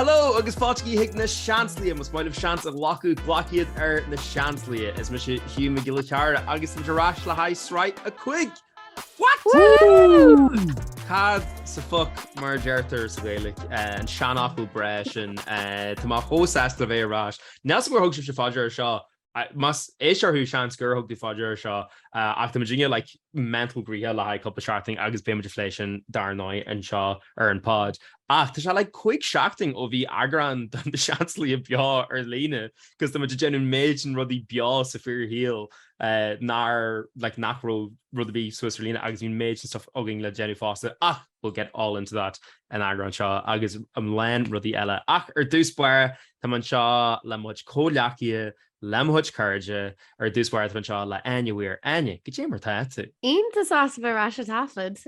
Hello agus fáilte chuig Na Seansálaithe. Más maith libh seans a ghlacadh glac iad ar Na Seansálaithe. Is mise Hugh Mac Giolla Chearra agus muid ar ais le haghaidh Sraith 5. What? Cad sa fuck mar a deirtear sa Ghaeilic eh, an seanfhocal breá sin eh, Tá mé chomh sásta le bheith ar ais. Níl a fhios agam ar thug sibhse faoi deara seo Más éisteoir thú, seans gur thug tú faoi deara seo, ach tá muid i ndiaidh like mental gnoitheach le haghaidh cúpla seachtain agus beidh muid ag plé sin dar ndóigh anseo ar an bpod. Ach tá sé like cúig seachtain ó bhí eagrán de Na Seansálaithe beo ar líne cos tá muid ag déanamh méid den rudaí beo sa fíorshaol nár like nach raibh rud ar bith suas ar líne agus bhí méid den stuff againn le déanamh fosta ach we'll get all into that san eagrán seo agus a lán rudaí eile ach ar dtús báire tá mé anseo le mo chuid comhghleacaithe, le mo chuid cairde, ar dtús báire tá mé anseo le Áine Weir. Áine, goidé mar atá tú? Iontach sásta a bheith ar ais ag taifead.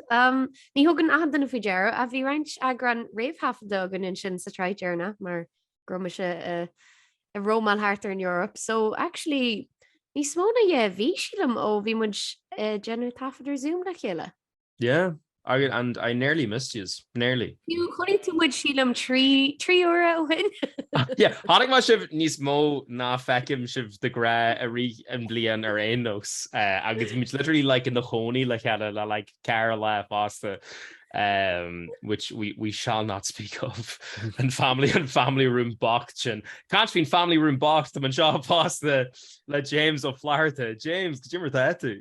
Ní thugann achan duine faoi deara ach bhí roinnt eagrán réamhthaifeadta againn ansin sa tsraith deireanach mar go raibh mise ag rómáil thart ar an Europe so actually níos mó ná dhá mhí sílim ó bhí muid ag déanamh taifead ar Zoom le chéile. Yeah, I, and I nearly missed yous, nearly. Fiú, chonaic tú muid sílim trí, trí uaire ó shin. yeah, chonaic mé sibh níos mó ná feicim sibh de ghnáth i rith an bliain ar aon nós, uh, agus muid literally like inár gcónaí le chéile le like ceithre lá fosta. Um, which we, we shall not speak of. an family, an family room box sin. Caint faoin family room box, tá mé anseo fosta le James Ó Flatharta. James, goidé mar atá tú?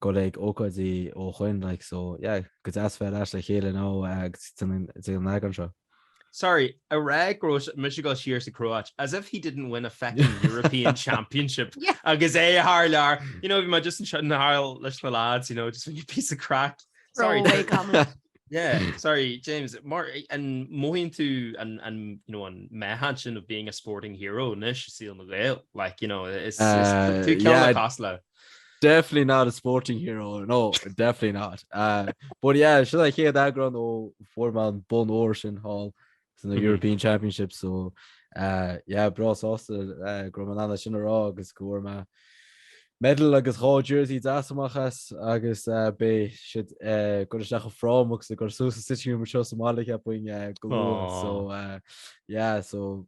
go ag ócáidí ó shoin like so yeah go deas bheith ar ais le chéile now agus den den leagan seo. Sorry, ag rá go raibh sé- mise go siar sa Chróit, as if he didn't win a feckin' European Championship Yeah. agus é thar lear. You know, bhí mé just ansin thart leis na lads, you know, just ag déanamh píosa craic. Sorry, Throwaway comment. yeah, sorry, James. Mar an mothaíonn tú an, an, you know, an meáchan sin of being a sporting hero anois i saol na nGael, like, you know, is, is Uh, tú ceann yeah. le cás le. Definitely not a sporting hero. No, definitely not. Uh, but yeah, should I hear that ground or four man bun or shin hall in the mm -hmm. European Championship? So uh, yeah, bros also uh, gromanana sin ará agus go ma medal agus gá jersey dasamachchas agus uh, bé si uh, go seach frámach sa gur sú sa siú mar seo sa máige buin uh, go so uh, yeah, so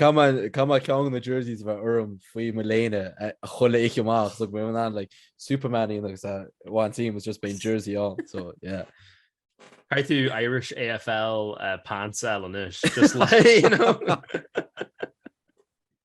Caithfidh ceann de na jerseys a bheith orm faoi mo léine chuile oíche amach so mé like Superman agus one team was just bíonn jersey ann so yeah. Caitheann tú Irish AFL uh, pants anois just le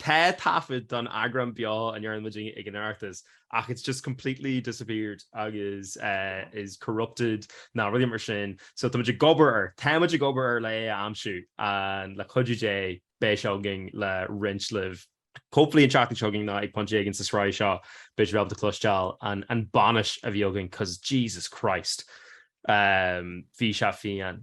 Tá taifead don eagrán beo a ndearna muid ag an Oireachtas ach it's just completely disappeared agus is corrupted nó rudaí mar sin so tá muid ag obair air, tá muid ag obair air le é a aimsiú and le cuidiú Dé beidh sé againn le roinnt libh hopefully an tseachtain seo chugainn nó ag pointe éigin sa sraith seo beidh sibh ábalta cloisteáil an bainis a bhí againn cos Jesus Christ bhí sé fiáin.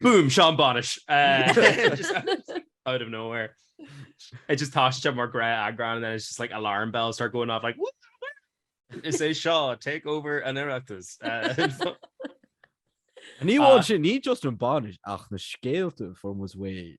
Boom, seo an bhainis! Out of nowhere. It just táiste mar grá eagrán and then it's just like alarm bells start going off like Is é seo take over an Oireachtas. Ní amháin sin, ní just an bhainis ach na scéalta from was way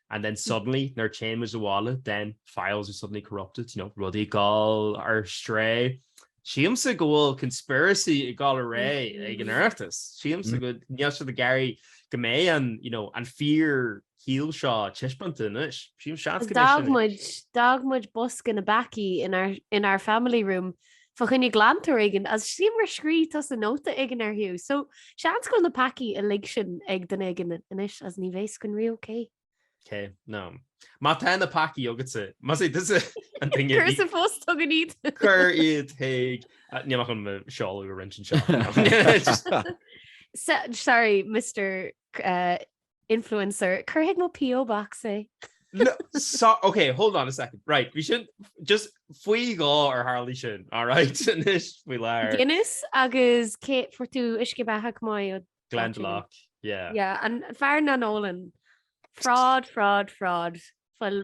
and then suddenly nuair a théann muid abhaile, then files are suddenly corrupted, you know, rudaí ag gabháil ar strae. Sílimse go bhfuil conspiracy ag gabháil ar aghaidh ag an Oireachtas. Sílimse go níl siad ag iarraidh go mbeidh an, you know, an fíorshaol seo taispeánta anois. Sílim seans go mbeidh sin. D'fhág muid bosca na bpeacaí in our, in our family room fá choinne glantóir éigin as sliabh mar scríobh tusa nóta éigin air Hugh so seans go bhfuil na peacaí uilig sin ag duine éigin anois is ní bheidh a fhios againn riamh ok. K, no. Má tá na peacaí agatsa, más é tusa an duine a bhí. Cuir sa phost chugainn iad. Cuir iad chuig. Níl mé chun seoladh a roinnt anseo. Sorry Mister Influencer. Cuir chuig mo PO Box é. No, so, ok, hold on a second. Right, bhí sin just faoi dhá ar tharlaigh sin, all right, anois faoi láthair. Guinness agus caidé fuair tú uisce beatha chomh maith? Glendalough, yeah. Yeah, an fear nach n-ólann. Fraud, fraud, fraud. Fuil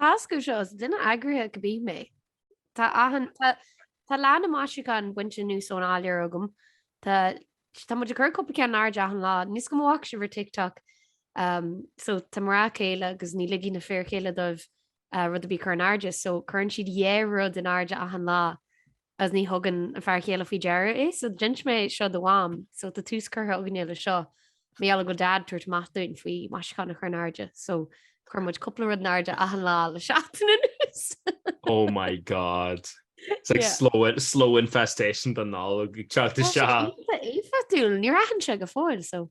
Tá a fhios agaibh seo, is duine eagraithe go mbith mé. Tá achan, tá, tá leath na maisiúchán bainte anuas ón áiléar agam. Tá, tá muid ag cur cúpla ceann in airde achan lá, níl a fhios agam an bhfaca sibh ar TikTok. Um, so tá mná céile agus ní ligfidh na fir chéile dóibh, uh, rud ar bith a chur in airde, so cuireann siad uh rud in airde achan lá. Is ní thugann an fear chéile faoi deara é, so d'inis mé seo do Mham, so tá tús curtha againne le seo. Mar gheall go Dad tabhairt amach dúinn faoi maisiúcháin a chur in airde, so chuir muid cúpla rud in airde achan lá le seachtain anuas. Oh my God! It's like slow slow infestation don Nollag ag teacht isteach. Tá sé iontach éifeachtúil, níor aithin sé go fóill, so.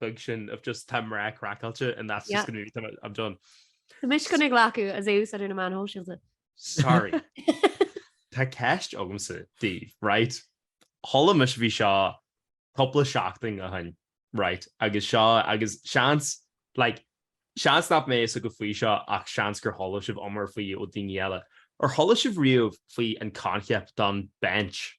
beag sin of just tá mná craiceáilte and that's just going to be I'm done. Tá mise ag glacadh sos ó na meáin shóisialta. Sorry. Tá ceist agamsa daoibh, right? Chuala mise bhí seo cúpla seachtain ó shin, right? Agus seo agus seans like, seans nach mbeidh a fhios agaibh faoi seo ach seans gur chuala sibh iomrá faoi ó daoine eile. Ar chuala sibh riamh faoi an concept don bench?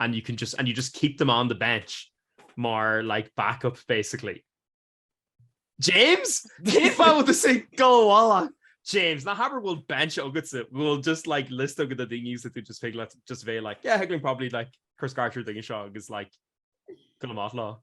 and you can just and you just keep them on the bench mar like backup basically. James? Cén fáth do sé gáhála? James, ná habair bhfuil bench agatsa, bhfuil just like list agat de daoine sa tú just thig leat just bheith like, yeah, thig linn probably like cur scairt ar daoine seo agus like gabháil amach leo.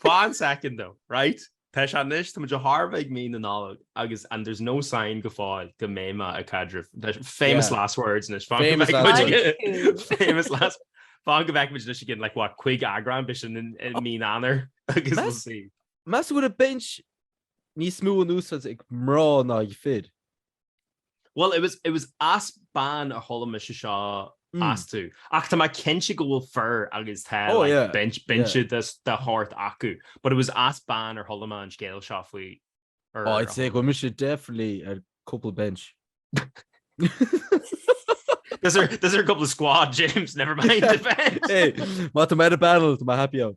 Fan second though, right? Tá sé anois, tá muid ag tarraingt ar mhí na Nollag agus and there's no sign go fóill go mbeidh mé ag caidreamh, famous last words anois, famous last, fan go bhfeicfimid anois againn, like what, chuig eagrán Beo ar Éigean i mí Eanáir agus we'll see. Meas tú an bhfuil an Bench níos mó in úsáid ag mná ná ag fir? Well it was it was as bean ar chuala mise seo, actually, ach tá mé cinnte go bhfuil fir agus tá binse de shórt acu but it was as bean ar chuala mé an scéal seo faoi ar a I'd say go bhfuil mise definitely ar cúpla bench. Those are a couple of squad James, never mind the bench. Hey, má tá mé ar an bpainéal tá mé happy ann.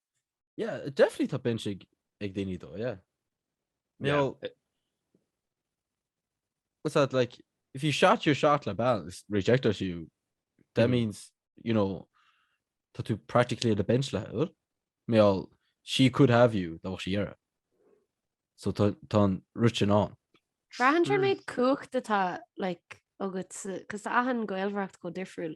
Yeah, definitely tá bin si ag daine dó yeah. No yeah. what's that like if you shot your shot le balance reject us you that mm. means you know tá tú practically the bench le ur mé all she could have you dá si era so tá an ruin an Rahan méid cuacht atá like agus cos ahan goilhracht go difriúil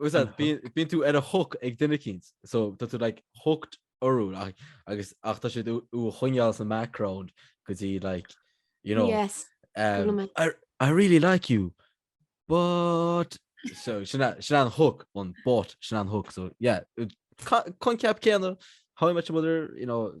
Bíonn tú ar an hook ag duine éicint, so tá tú like hooked orthu agus ach tá siad do do choinneáil sa background go dtí like, you know, yes. um, I, I really like you, but so sin an hook an but sin an hook so yeah, coincheap céanna, how I met your mother, you know,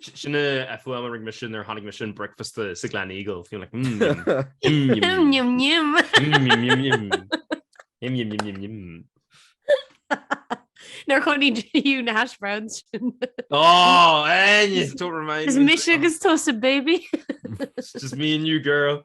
Sin an fhuaim a rinne mise nuair a tháinig mise chuig an bricfeasta sa Gleneagle, feel like nuair a chuaigh tú, na hash browns sin. Á tú mé. Is mise agus tusa, baby. Just me and you girl.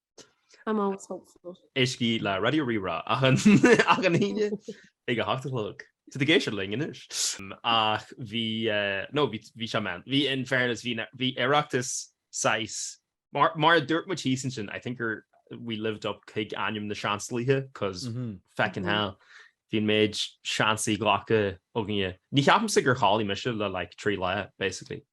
I'm always hopeful. Éistigí le Raidió Rí-Rá achan Aoine ag a hocht a chlog. Tá tú ag éisteacht linn anois. Ach bhí, nó bhí sé, man. Bhí, in fairness, bhí Oireachtas saghas, mar mar a dúirt muid thíos ansin, I think gur we lived up chuig ainm na seansálaithe, cos feckin' hell, bhí an méid seansanna glactha againne. Ní cheapaimse gur chodail mise le like trí lá, basically.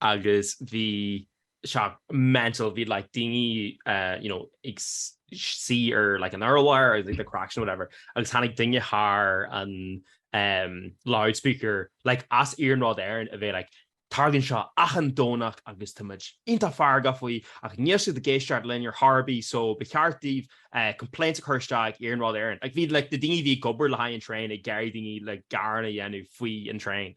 agus bhí sé mental, bhí like daoine you know ag suí ar like an urlár agus like the craic and whatever agus tháinig duine thar an um loudspeaker like as Iarnród Éireann a bhí like Tarlaíonn seo achan Domhnach agus tá muid iontach feargach faoi ach níl siad ag éisteacht linn ar chor ar bith so ba cheart daoibh eh complaints a chur isteach ag Iarnród Éireann. Like bhí like na daoine a bhí ag obair le haghaidh an traein ag iarraidh daoine like gearán a dhéanamh faoi an traein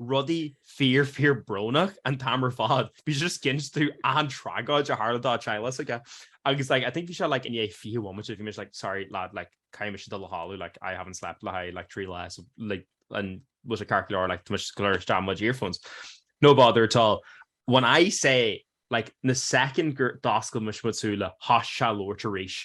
rudaí fíor, fíor brónach an t-am ar fad. Bhí sé just cinéal tragóid a tharla dá theaghlach aige. Agus like I think bhí sé like i ndiaidh fiche bhomaite, bhí mise like sorry lad like caithfidh mise dul a chodladh like I haven't slept le haghaidh like trí lá so like an bhfuil sé ceart go leor like tá mise ag goil a chur isteach mo chuid earphones. No bother at all. When I say like an soicind gur d'oscail mise mo shúile thosaigh sé ag labhairt arís.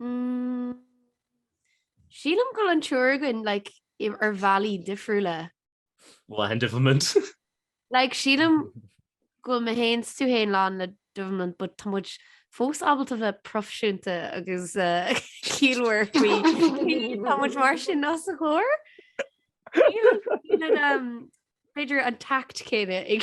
Mm, Sílim go bhfuil an triúr againn like, ar bhealaí difriúla. Well, lán devilment. like, sílim go bhfuil mé héin tú héin lán le devilment, but tá muid fós ábalta bheith proifisiúnta agus uh, eh, ciallmhar faoi. Tá muid mar sin ná sa chóir. B'fhéidir an tact céanna ag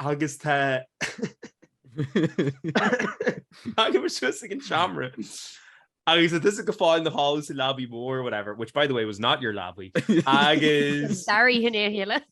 Agus tá Tagann muid suas ag an seomra agus tá tusa go fóill in do chodladh sa leabaidh mhór, whatever, which by the way was not your leabaidh, agus... Sorry, hin é a chéile.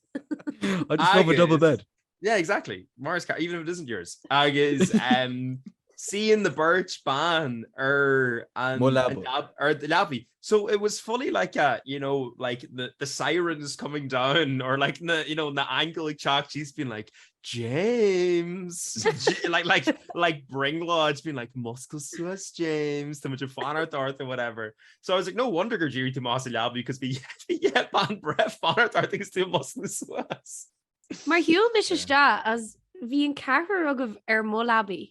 I just love a double bed. Yeah, exactly. Mar is ceart, even if it isn't yours. Agus suíonn an bheirt bhan ar an leabaidh. So it was fully like a, you know, like the the sirens coming down or like na, you know, na haingil ag teacht síos being like James! like like like brionglóid being like Múscail suas James, tá muid ag fanacht ort or whatever. So I was like no wonder gur d'éirigh tú amach as an leabaidh because bhí yeah bean bhreá ag fanacht ort agus tú ag múscladh suas. Mar shiúil mise isteach is bhí an ceathrar agaibh ar mo leabaidh.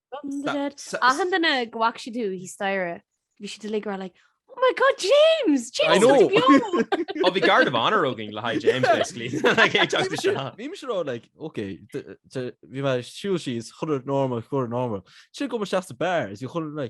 Achan duine go bhac si tú hí staire, bhí sibh uilig ag rá like Oh my god James James Ó bhí guard of honour againn le haghaidh James basically like oké bhí mé ag siúl síos chur norma chuir norma. Si go seasta bear is bhí chun le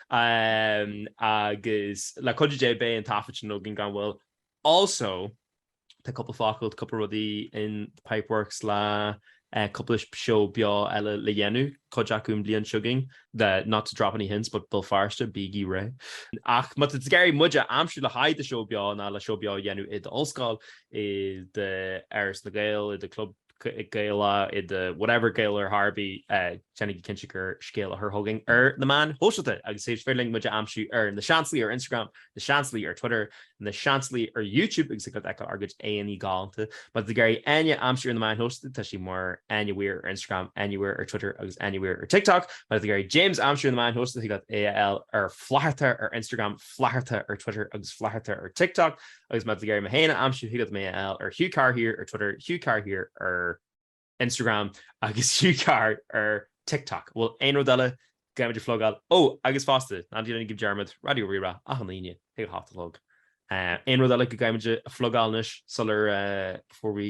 agus le cuidiú Dé beidh an taifead sin againn gan mhoill. Also, tá cúpla focal, cúpla rudaí in the pipeworks le cúpla seó beo eile le déanamh, cuid acu an bhliain seo chugainn, not to drop any hints but Béal Feirste, bígí réidh! Ach má tá tú ag iarraidh muid a aimsiú le haghaidh do sheó beo ná le seó beo a dhéanamh i d'ollscoil, i d'Áras na nGael, i do chlub, Gaelach, i do whatever Gaelach ar bith, déanaigí cinnte gur scéala a chur chugainn ar na meáin shóisialta agus is féidir linn muid a aimsiú ar na Seansálaithe ar Instagram, na Seansálaithe ar Twitter, na Seansálaithe ar YouTube agus ag feiceáil ár gcuid aghaidheanna galánta. Má tá tú ag iarraidh Áine a aimsiú ar na meáin shóisialta tá sí mar Áine Weir ar Instagram, Áine Weir ar Twitter agus Áine Weir ar TikTok. Má tá tú ag iarraidh James a aimsiú ar na meáin shóisialta thig leat é a fháil ar Flatharta ar Instagram, Flatharta ar Twitter agus Flatharta ar TikTok. agus má tá tú ag iarraidh mé féin a aimsiú thig leat mé a fháil ar Hugh Carr here ar Twitter, Hugh Carr here ar Instagram agus Hugh Carr ar TikTok. An bhfuil aon rud eile go gcaithfimid a phlugáil? Ó, agus fosta, ná déanaigí dearmad, Raidió Rí-Rá, achan Aoine, ag a hocht a chlog. Aon rud eile go gcaithfimid a phlugáil anois sular fuair mé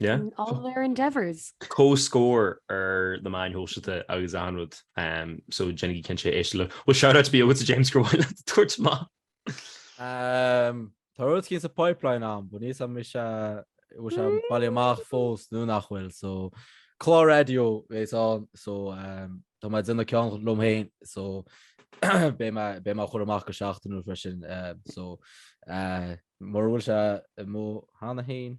in all their endeavours. Comhscór ar na meáin shóisialta agus aon rud so déanaigí cinnte éisteacht leo. Well shout out ar bith a James gur mhaith leat a tabhairt amach. Umm tá rud eicínt sa pipeline ann but níl a fhios agamsa an bhfuil sé bailithe amach fós nó nach bhfuil so clár raidió bhéas ann so tá mé ag déanamh ceann liom féin so beidh mé beidh mé á chur amach go seachtainiúil freisin so mura bhfuil sé i mo cheann féin